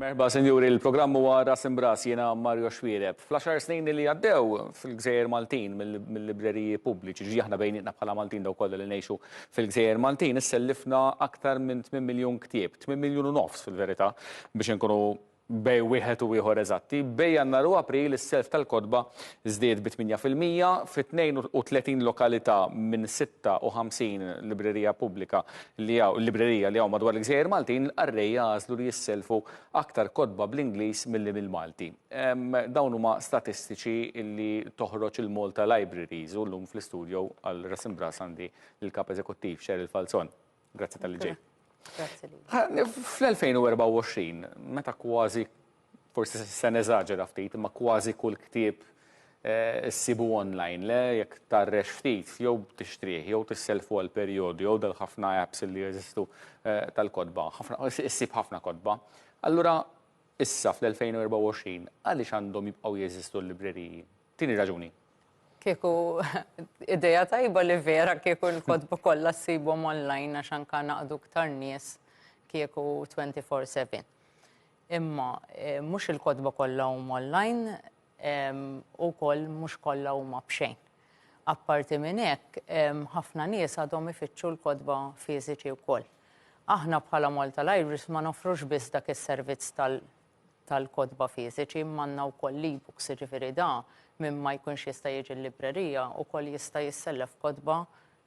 Merħba Sinjuri, il-programm huwa Ras Imb'Ras, jiena Mario Xwiereb. Fl-għaxar snin li għaddew fil-Gżejjer Maltin mill-libreriji pubbliċi, ġifieri aħna bejnietna bħala Maltin dawk kollha li ngħixu fil-Gżejjer Maltin, issellifna aktar minn tmien miljun ktieb, tmien miljun u nofs fil-verità biex inkunu bejn wieħed u ieħor eżatti. Bejn Jannar u April is-self tal-kotba żdied bi tmienja fil-mija fi 32 lokalità minn 56 librerija pubblika li hawn librerija li hawn madwar il-Gżejjer Maltin, il-qarrej jagħżlu li jisselfu aktar kotba bl-Ingliż milli bil-Malti. Dawn huma statistiċi li toħroġ il-Malta Libraries u llum fl-istudjo għal Ras Imbras għandi l-Kap Eżekuttiv Cheryl Falzon. Grazzi tal-li ġej. Grazzi li. Fl-2024, meta kważi, forsi se neżaġera ftit, imma kważi kull ktieb eh, issibu online, le jekk tarrex ftit, jew tixtrih, jew tisselfu għal perjodu, jew dal ħafna apps li jeżistu eh, tal-kodba, issib ħafna kodba. Allura, issa fl-2024, għaliex għandhom jibqgħu jeżistu l-libreriji? Tieni raġuni. Kieku idea tajba li vera kieku l-kotba kollha ssibhom online għax anka naqdu ktar nies kieku 24/7. Imma eh, mhux il-kotba kollha huma online u koll mhux kollha huma b'xejn. Apparti minn hekk, ħafna nies għadhom ifittxu l-kotba fiżiċi wkoll. Aħna bħala Malta Libraries ma nofrux biss dak is-servizz tal tal-kotba fiżiċi imma għandna wkoll l-e-books, jiġifieri da min ma jkunx jista' jiġi l-librerija wkoll jista' jissellef kotba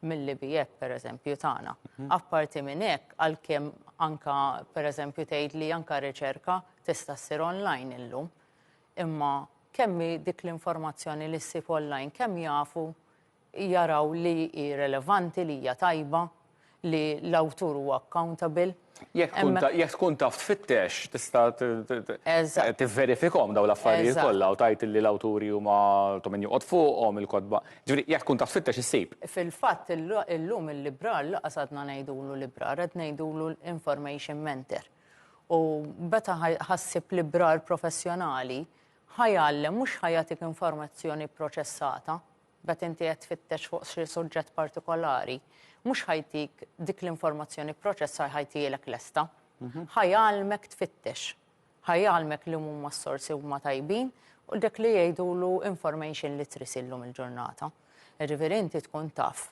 mill-IB app pereżempju tagħna. Apparti minn hekk għalkemm anke pereżempju tgħid li anke riċerka tista' ssir online illum, imma kemm hi dik l-informazzjoni li ssib online, kemm jafu jaraw li hi relevanti, li hija tajba, li l-awtur huwa accountable. Jekk tkun ta, jekk tkun taf tfittex, tista' t, t, t, Eżatt. tivverifikhom dawn l-affarijiet Eżatt. kollha u tgħid li l-awturi huma ta' min joqgħod fuqhom, il-kotba. Ġifieri, jekk tkun taf tfittex issib. Fil-fatt ill, illum il-librar lanqas għadna ngħidulu librar, qed ngħidulu l-information mentor. U meta ħa, ħa ssib librar professjonali, ħa jgħallem, mhux ħa jagħtik informazzjoni pproċessata, meta inti qed tfittex fuq xi suġġett partikolari, mhux ħa jtik dik l-informazzjoni pproċessar ħa jtihielek lesta. Ħa jgħallmek tfittex. Ħa jgħallmek li huma s-sorsi huma tajbin u dak li jgħidulu information literacy llum il-ġurnata. Jiġifieri inti tkun taf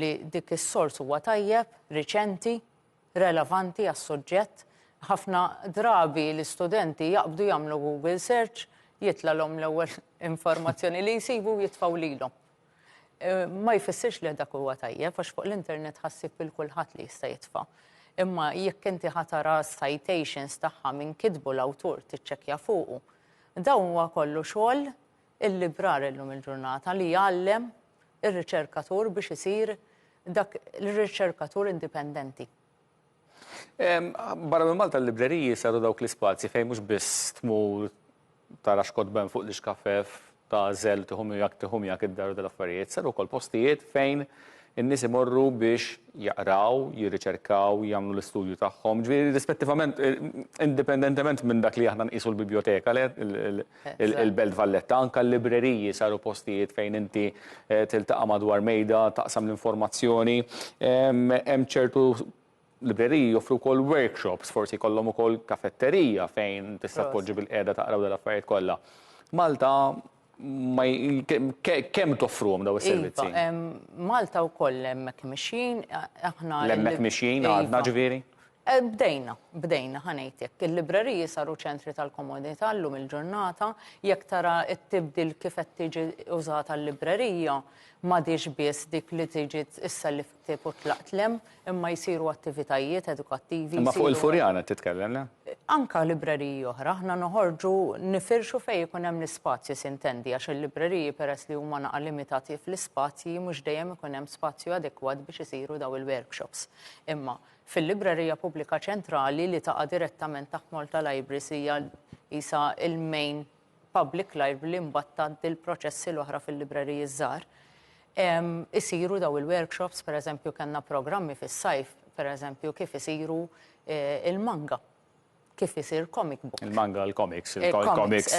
li dik is-sors huwa tajjeb, riċenti, relevanti għas-suġġett. Ħafna drabi l-istudenti jaqbdu jagħmlu Google search, jitlgħalhom l-ewwel informazzjoni li jsibu u jitfgħu lilhom. Ma jfissirx li dak huwa tajjeb għax fuq l-internet ħa ssib lil kulħadd li jista' jitfa'. Imma jekk inti ħa tara s-citations tagħha min kitbu l-awtur tiċċekkja fuqu. Dan huwa kollu xogħol il-librar illum il-ġurnata li jgħallem ir-riċerkatur biex isir dak l-riċerkatur indipendenti. Barra minn Malta l-libreriji saru dawk l-ispazji fejn mhux biss tmur tara x'kotben fuq l-ixkafef ta' żel tieħu miegħek tieħu miegħek id-dar u dal-affarijiet, saru wkoll postijiet fejn in-nies imorru biex jaqraw, jirriċerkaw, jagħmlu l-istudju tagħhom. Ġifieri rispettivament indipendentement minn dak li aħna nqisu l-bibjoteka le il-Belt Valletta. Anke l-libreriji saru postijiet fejn inti tiltaqa' madwar mejda, taqsam l-informazzjoni. Hemm ċertu libreriji joffru wkoll workshops, forsi jkollhom ukoll kafetterija fejn tista' tpoġġi bilqiegħda taqra dawn l-affarijiet kollha. Malta kemm toffruhom dawn is-servizzi? Iva, Malta wkoll hemmhekk mixjin. L-hemmhekk mixjin għadna ġifieri? Bdejna, bdejna, ħa ngħid hekk. Il-libreriji saru ċentri tal-komodità llum il-ġurnata. Jekk tara t-tibdil kif qed tiġi użata l-librerija, m'għadhiex biss dik li tiġi issellif ktieb u tlaqt lhemm, imma jsiru attivitajiet edukattivi. Imma fuq il-Furjana qed titkellem, le? Anke libreriji oħra. Aħna noħorġu nifirxu fejn ikun hemm l-ispazju, sintendi, għax il-libreriji peress li huma naqa' limitati fl-ispazji mhux dejjem ikun hemm spazju adekwat biex isiru dawn il-workshops. Imma Fil-Librerija Pubblika Ċentrali li taqa' direttament taħt Malta Libraries hija qisha l-main public library li mbagħad tgħaddi l-proċessi l-oħra fil-libreriji ż-żgħar. Isiru daw il-workshops, pereżempju kellna programmi fis-sajf, pereżempju kif isiru l-manga, kif isir comic book. Il-manga, il-comics, il-comics,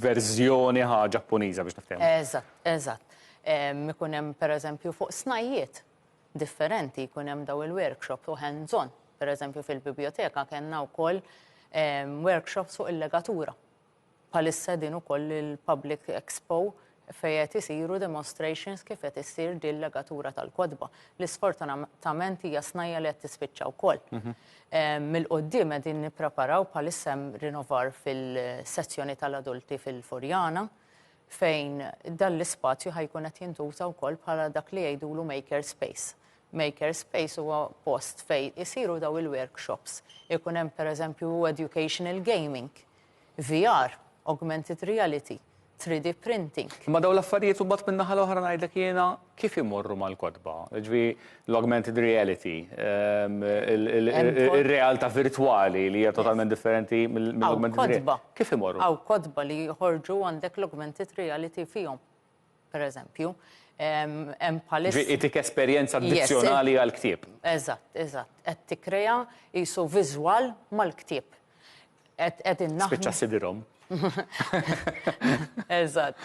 verżjoni ħaġa Ġappuniża biex niftehmu. Eżatt, eżatt. Ikun hemm pereżempju fuq snajjiet, differenti jkun hemm daw il-workshops u hands on. Per eżempju fil-biblioteka kellna wkoll ehm, workshops fuq il-legatura. Palissa din ukoll il-Public Expo fejet isiru demonstrations kif qed issir din legatura tal-kodba. Li sfortunatament hija snajja li qed tispiċċa wkoll. Mhm. Ehm, mill-qoddim qegħdin nippreparaw bħalissem rinovar fil-sezzjoni tal-adulti fil-Furjana fejn dan l-ispazju ħa jkun qed jintuża wkoll bħala dak li jgħidulu maker space. Maker space huwa post fejn isiru daw il-workshops. Ikun hemm pereżempju educational gaming, VR, augmented reality, 3D printing. Imma dawn l-affarijiet imbagħad min-naħa l-oħra ngħidlek jiena kif imorru mal-kotba, ġvi l-augmented reality, ehm, il-realta virtuali li hija totalment differenti mill-augmented reality. Kif imorru? Għaw kotba li jħorġu għandek l-augmented reality fihom, per eżempju. Ehm, hemm palissa. Itik esperjenza addizzjonali għal-ktib. Eżatt, eżatt. Qed tikrea jisu viżwal mal-ktib. Qed qegħdin naħdmu. Spiċċa sidirhom. Eżatt.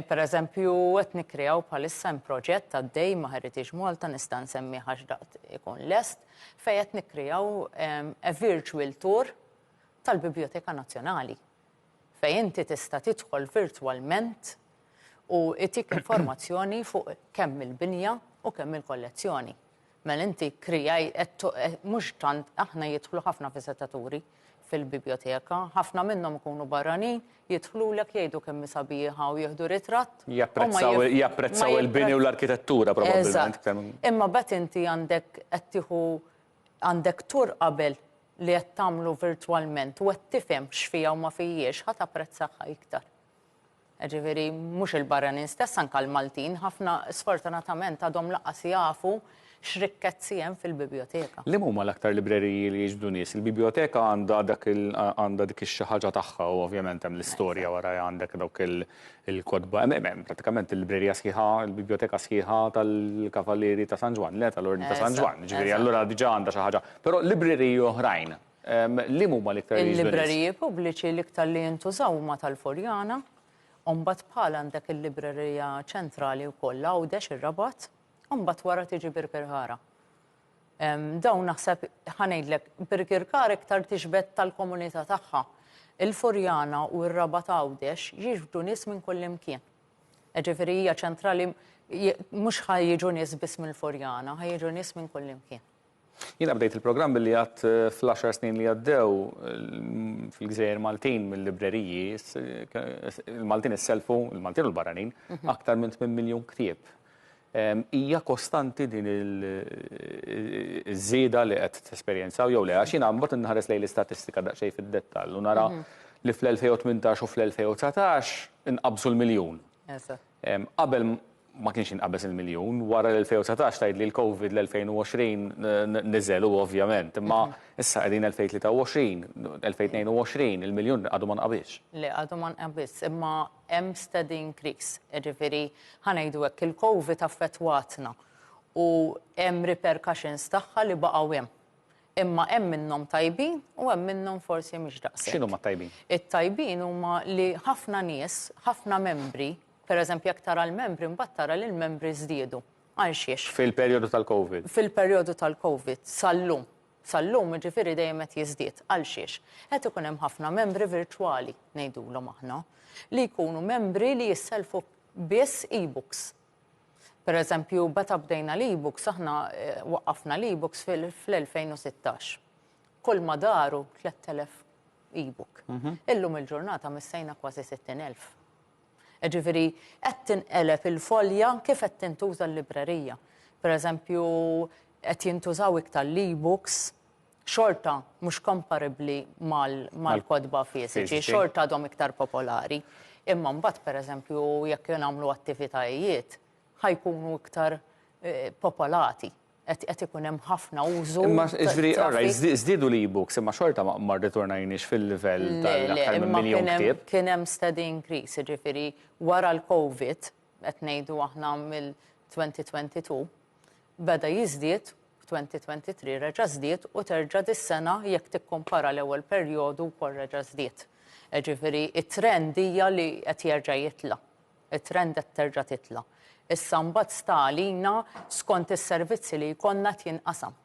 Per eżempju, qed nikkrew bħalissa hemm proġett għaddej ma' Heritage Malta nista' nsemmi għax daqt ikun lest fejn qed nikkrew a virtual tour tal-Bibljoteka Nazzjonali. Fejn inti tista' tidħol virtwalment u jtik informazzjoni fuq kemm il-binja u kemm il-kollezzjoni. Mela inti kkrijajt, mhux tant, aħna jidħlu ħafna viżitaturi fil-bibjoteka, ħafna minnhom ikunu barranin, jidħlulek jgħidu kemm hi sabiħa u jieħdu ritratt. Japprezzaw, japprezzaw il-bini u l-arkitettura probabbilment. Imma bad inti għandek qed tieħu għandek tur qabel li qed tagħmlu virtwalment u qed tifhem x'fiha u ma fihiex, ħa tapprezzahha iktar. Jiġifieri mhux il-barranin stess, anke l-Maltin, ħafna sfortunatament għadhom lanqas jafu x'rikkezzi hemm fil-bibjoteka. Liema huma l-aktar libreriji li jiġbdu nies? Il-bibjoteka għandha dak il, għandha dik ix-xi ħaġa tagħha u ovvjament hemm l-istorja warajha għandek dawk il-kotba. Hemm, hemm, hemm prattikament il-librerija sħiħa, il-bibjoteka sħiħa tal-Kavalieri ta' San Ġwann, le tal-Ordni ta' San Ġwann, jiġifieri allura diġà għandha xi ħaġa. Però libreriji oħrajn Liem huma l-iktar jgħixu nies? Il-libreriji pubbliċi l-iktar li jintużaw huma tal-Furjana, u mbagħad bħal għandek il-librerija ċentrali wkoll l-Għawdex, ir-Rabat, u mbagħad wara tiġi Birkirkara. Dawn naħseb ħa ngħidlek, Birkirkara iktar tixbed tal-komunità tagħha. Il-Furjana u r-Rabat Għawdex jiġbdu nies minn kullimkien. Jiġifieri hija ċentrali mhux ħa jiġu nies biss mill-Furjana, ħa jiġu nies minn kullimkien. Jiena bdejt il-programm billi għadt fl-għaxar snin li għaddew fil-gżejjer Maltin mill-libreriji, il-Maltin isselfu, il-Maltin u l-barranin, mhm. aktar minn 8 miljun ktieb. Hija kostanti din iż-żieda li qed tesperjenzaw jew le, għax jiena mbagħad inħares lejn l-istatistika daqsxejn fid-dettall u nara mhm. li fl-2018 u fl-2019 inqabżu l-miljun. Qabel ma kienx jinqabeż il-miljun, wara l-2019 tgħidli l-Covid l-2020 niżel hu ovvjament, imma issa qegħdin 2023, 2022, il-miljun għadu ma nqabiżx. Le, għadu ma nqabiżx, imma hemm steady increase. Jiġifieri, ħa ngħidu hekk, il-Covid affettwatna u hemm repercussions tagħha li baqgħu hemm. Imma hemm minnhom tajbin u hemm minnhom forsi mhux daqshekk. X'inhuma t-tajbin? It-tajbin huma li ħafna nies, ħafna membri, pereżempju jekk tara l-membri mbagħad tara li l-membri żdiedu. Għal xiex? Fil-perjodu tal-Covid. Fil-perjodu tal-Covid sal-lum. Sal-lum jiġifieri dejjem qed jiżdied. Għal xiex? Qed ikun hemm ħafna membri virtwali, ngħidulhom aħna, li jkunu membri li jissellfu biss e-books. Pereżempju, meta bdejna l-e-books, aħna waqqafna l-e-books fl-2016. Kulma daru 3,000 e-book. Illum il-ġurnata missejna kważi 60,000. Jiġifieri qed tinqeleb il-folja kif qed tintuża l-librerija. Pereżempju, qed jintużaw iktar l-e-books xorta mhux komparibbli mal-kotba fiżiċi, xorta għadhom iktar popolari. Imma mbagħad pereżempju jekk jien nagħmlu attivitajiet ħajkunu iktar popolati qed ikun hemm ħafna użu. Imma ġifieri alright żdiedu l-e-books imma xorta ma rritornajniex fil-livell tal-aktar minn miljun ktieb. Kien hemm steady increase, jiġifieri wara l-COVID qed ngħidu aħna mill-2022, beda jiżdied, f'2023 reġa' żdied u terġa' dis-sena jekk tikkumpara l-ewwel perjodu wkoll reġa' żdied. Jiġifieri t-trend hija li qed jerġa' jitla'. It-trend qed terġa' titla'. Issa mbagħad sta għalina skont is-servizzi li jkollna qed jinqasam.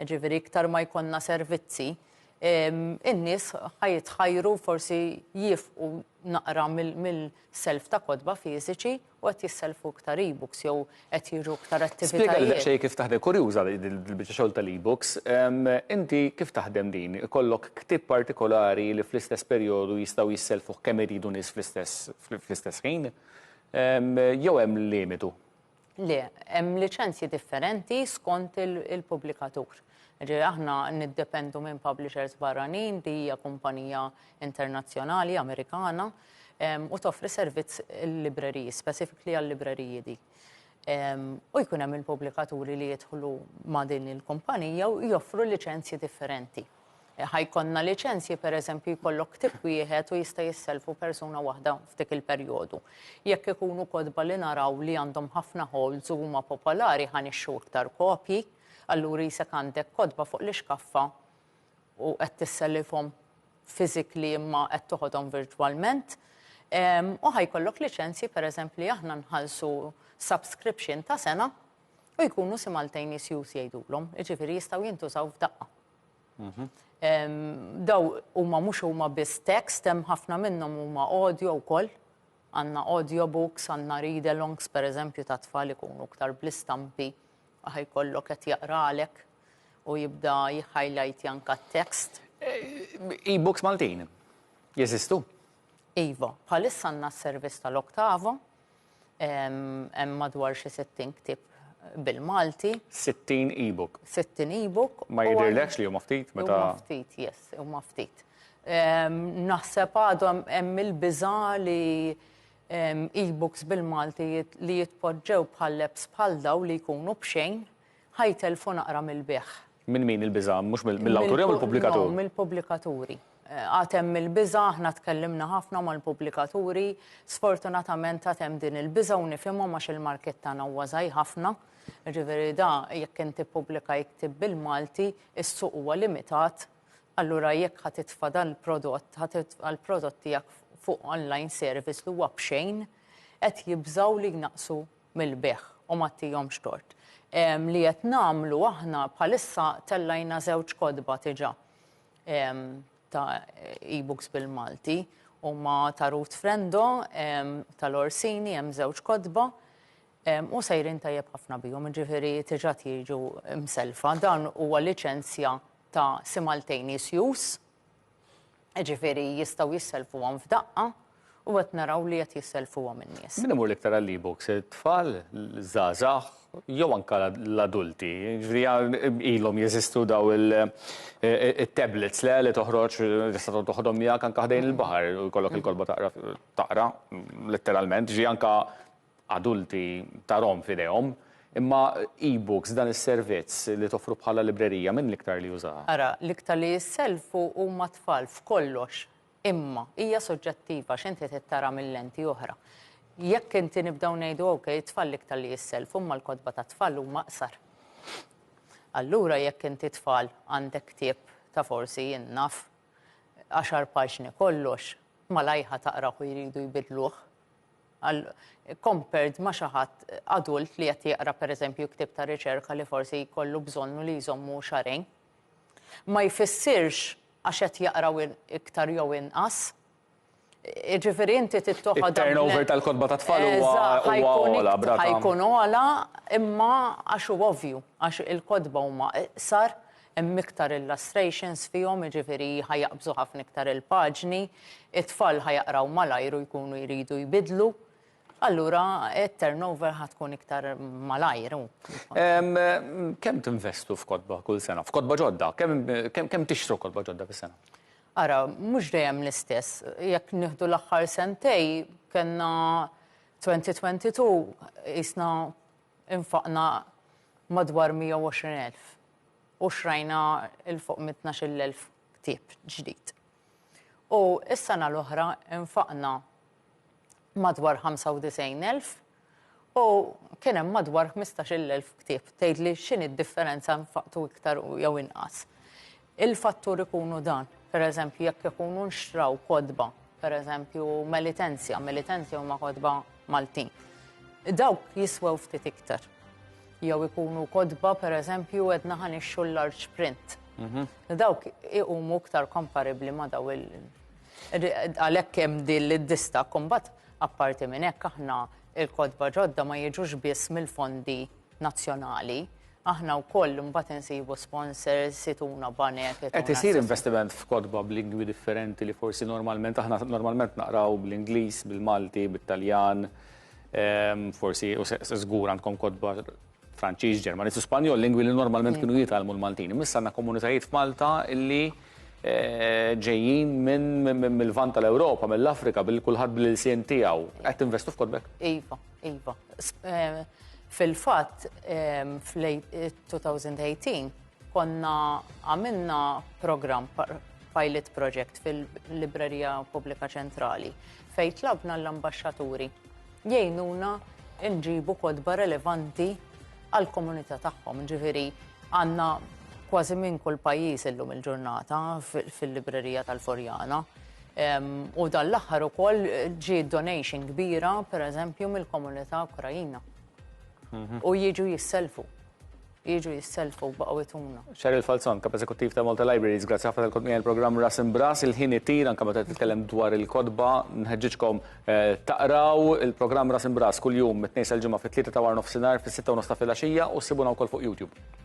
Jiġifieri iktar ma jkollna servizzi, in-nies ħa jitħajru forsi jifqu naqra mill-self ta' kotba fiżiċi u qed jissellfu iktar e-books jew qed jiġu iktar attivitajiet. Spjegali daqsxejn kif taħdem, kurjuża dil-biċċa xogħol tal-e-books. Inti kif taħdem din? Ikollok ktieb partikolari li fl-istess perjodu jistgħu jissellfuh kemm iridu nies fl-istess fl-istess ħin? Jew hemm limitu? Le, hemm liċenzji differenti skont il-pubblikatur. Jiġifieri aħna niddependu minn publishers barranin, di hija kumpanija internazzjonali Amerikana, u toffri servizz il-libreriji, specifically għal-libreriji di. U jkun hemm il-pubblikaturi li jidħlu ma' din il-kumpanija u joffru liċenzji differenti. Ħa jkollna liċenzji, per eżempju, jkollok ktieb wieħed u jista' jissellfu persuna waħda f'dik il-perjodu. Jekk ikunu kotba li naraw li għandhom ħafna holds u huma popolari, ħa nixtru iktar kopji. Allura qisek għandek kotba fuq l-ixkaffa u qed tissellifhom physically imma qed toħodhom virtwalment. U ħa jkollok liċenzji pereżempju li aħna nħallsu subscription ta' sena u jkunu simultaneous use jgħidulhom, jiġifieri jistgħu jintużaw f'daqqa. Daw huma mhux huma biss text, hemm ħafna minnhom huma audio wkoll. Għandna audio books, għandna read alongs pereżempju tat-tfal ikunu iktar bl-istampi. Aħ ikollok qed jaqralek u jibda jihhajlajtja anka t-text. E-books Maltin jeżistu? Iva, bħalissa għandna s-servizz tal-Octavo, hemm madwar xi 60 ktieb bil-Malti. 60 e-book? 60 e-book. Ma jidhirlekx li huma ftit meta. Huma ftit, yes, huma ftit. Naħseb għadhom hemm il-biża' li e-books bil-Malti li jitpoġġew bħal apps bħal dawn li jkunu b'xejn, ħa jtellfu naqra mill-bigħ. Minn min il-biża'? Mhux mill-awtur jew mill-pubblikatur? No, mill-pubblikaturi. Għad hemm il-biża', aħna tkellimna ħafna mal-pubblikaturi, sfortunatament għad hemm din il-biża' u nifhimhom għax il-market tagħna huwa żgħir ħafna. Jiġifieri da jekk inti pubblika jiktib bil-Malti, is-suq huwa limitat Allura jekk ħa titfa' dan il-prodott, ħa titfa' l-prodott tiegħek fuq online service li huwa b'xejn, qed jibżgħu li jnaqqsu mill-bejgħ u ma tihomx tort. Li qed nagħmlu aħna bħalissa tellajna żewġ kotba diġà ta' e-books bil-Malti, huma ta' Ruth Frendo tal-Orsini, hemm żewġ kotba u sejrin tajjeb ħafna bihom, jiġifieri diġà jiġu msellfa. Dan huwa liċenzja ta' simultaneous use, jiġifieri jistgħu jissellfuhom f'daqqa u qed naraw li qed jissellfuhom in-nies. Min imur l-iktar għall-e-books, it-tfal, iż-żgħażagħ jew anke l-adulti? Jiġifieri ilhom jeżistu dawn it-tablets le li toħroġ tista' tkun toħodhom miegħek anke ħdejn il-baħar u jkollok il-kotba taqra taqra letteralment, jiġifieri anke adulti tarhom f'idejhom, imma e-books, dan is-servizz li toffru bħala librerija, min l-iktar li jużaha? Ara, l-iktar li jissellfu huma t-tfal f'kollox, imma hija soġġettiva għax inti trid tara minn lenti oħra. Jekk inti nibdew ngħidu ok, it-tfal l-iktar li jissellfu, imma l-kotba tat-tfal huma qsar. Allura jekk inti tfal għandek ktieb ta' forsi jien naf għaxar paġni kollox, malajr ħa taqrah u jridu jbiddluh. għal compared ma' xi ħadd adult li qed jaqra pereżempju ktieb ta' riċerka li forsi jkollu bżonnu li jżommu xahrejn. Ma jfissirx għax qed jaqraw iktar jew inqas. Jiġifieri inti trid toħodha. It-turnover tal-kotba tat-tfal huwa ogħla b'rata. Ħajkun ogħla imma għax hu ovvju għax il-kotba huma iqsar Hemm iktar illustrations fihom, jiġifieri ħa jaqbżu ħafna iktar il-paġni, it-tfal ħa jaqraw malajr u jkunu jridu jbiddlu, allura t-turnover ħa tkun iktar malajr. Kemm tinvestu f'kotba kull sena? F'kotba ġodda? Kemm tixtru kotba ġodda fis-sena? Ara, mhux dejjem l-istess. Jekk nieħdu l-aħħar sentejn, kellna 2022 qisna Infaqna madwar 120 elf u xtrajna 'l fuq minn tnax-il elf ktieb ġdid. U s-sena l-oħra nfaqna madwar 95 elf u kien hemm madwar ħmistax-il elf ktieb. Tgħidli x'inhi d-differenza nfaqtu iktar jew inqas? Il-fattur ikunu dan, per eżempju, jekk ikunu nxtraw kodba, per eżempju, melitenzja, melitenzja huma kodba Maltin. Dawk jiswew ftit iktar. Jew ikunu kodba, per eżempju, edna ħanixxu l-large print. Mhm. Dawk iqumu iktar komparibli ma daw il- għalhekk hemm din l-dista kumbat apparti minn hekk aħna il-kodba ġodda ma jiġux biss mill-fondi nazzjonali, aħna wkoll mbagħad insibu sponsors, ituna banek. Qed isir investiment f'kotba b'lingwi differenti li forsi normalment aħna normalment naqraw bl-Ingliż, bil-Malti, bit-Taljan, ehm, forsi u żgur għandkom kotba Franċiż, Ġermaniż u Spanjol, lingwi li normalment mm. kienu jitgħallmu l-Maltin. Missa għandna komunitajiet f'Malta illi eh, ġejjin minn mill-vant tal-Ewropa, mill-Afrika, bil-kulħadd bil-ilsien tiegħu. Qed investu f'kotbek? Iva. Iva. Eh, fil-fatt, eh, fl-2018 konna għamilna program pilot project fil-Librerija Pubblika Ċentrali fej tlabna l-ambasċaturi jgħinuna nġibu kodba relevanti għal komunità tagħhom. Ġifieri għandna kważi minn kull pajjiż illum il-ġurnata fil-librerija tal-Forjana. U dan l-aħħar ukoll ġie donation kbira, per eżempju, mill-komunità Ukrajina. Mhm. U jiġu jisselfu. Jiġu jisselfu b'qawituna. Xar il-falzon, kap eżekuttiv ta' Malta Libraries, grazzi ħafna tal-kodmija il-programm Ras Imbras, il-ħin ittir, anka meta titkellem dwar il-kodba, nħeġġiġkom eh, taqraw il-programm Ras Imbras kull-jum mit-tnejn sal-ġimgħa fit-tlieta ta' war nofsinhar fis-sitta u nofs ta' filgħaxija u ssibuna wkoll fuq YouTube.